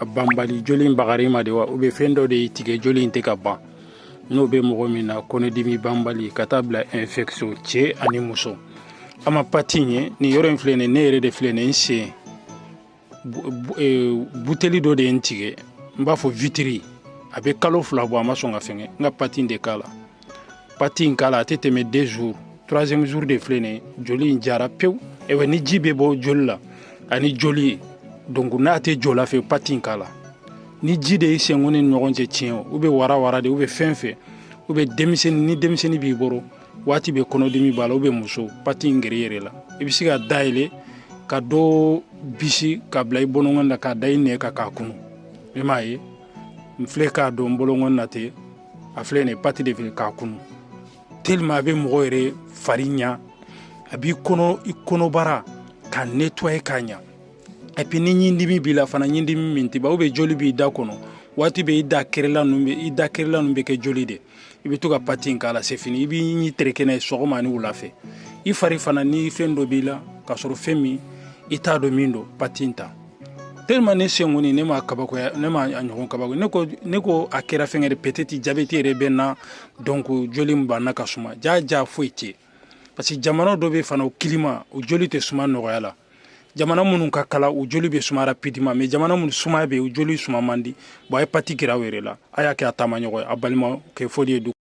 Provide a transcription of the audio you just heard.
A banbali joli in bagar'i ma de wa ou bien fɛn dɔ de y'i tigɛ joli in tɛ ka ban n'o bɛ mɔgɔ min na kɔnɔdimi banbali ka taa bila infection cɛ ani muso an ma pati in ye nin yɔrɔ in filɛ nin ne yɛrɛ de filɛ nin n sen buteli dɔ de ye n tigɛ n b'a fɔ vitre a bɛ kalo fila bɔ a ma sɔn ka fɛngɛ n ka pati in de k'a la pati in k'a la a tɛ tɛmɛ deux jours troisième jour de filɛ nin ye joli in jara pewu ewa ni ji bɛ bɔ joli la ani joli ye donc n'a tɛ jɔ la fɛ pati in k'a la ni ji de ye senkɔni ni ɲɔgɔn cɛ tiɲɛ o ou bien wara wara de ou bien fɛn fɛn ou bien denmisɛnnin ni denmisɛnnin b'i bolo waati bɛɛ kɔnɔdimi b'a la ou bien muso pati in gere yɛrɛ la i bɛ se k'a dayɛlɛ ka dɔ bisi k'a bila i bolonkɔni na k'a da i nɛn kan k'a kunu i m'a ye n filɛ k'a don n bolonkɔni na ten a filɛ nin ye pati de fɛ k'a kunu tellement a bɛ mɔgɔ yɛrɛ fari ɲa a b'i kɔnɔ i kɔnɔbara ka nettoyer k'a ɲa et puis ni ɲindimi b'i la fana ɲindimi min tɛ ban ou bien joli b'i da kɔnɔ waati bɛɛ i da kɛrɛla ninnu bɛ i da kɛrɛla ninnu bɛ kɛ joli de i bɛ to ka pati in k'a la c'est fini i b'i ɲi tereke n'a ye sɔgɔma ani wula fɛ i fari fana ni fɛn dɔ b'i la k'a sɔrɔ fɛn min i t'a dɔn min don pati in ta tellement ne sen kɔni ne ma kabakoya ne ma a ɲɔgɔn kabako ne ko ne ko a kɛra fɛngɛ de peut-être jabɛti yɛrɛ bɛ n na donc joli min banna ka suma jaa jaa foyi tɛ parce que jamana dɔ bɛ fana o climat o joli tɛ suma nɔgɔya la jamana minnu ka kalan u joli bɛ suma rapidement mais jamana minnu sumaya bɛ yen u joli suma man di bon a ye pati k'aw yɛrɛ la a y'a kɛ a taamaɲɔgɔn ye a balimakɛ foli ye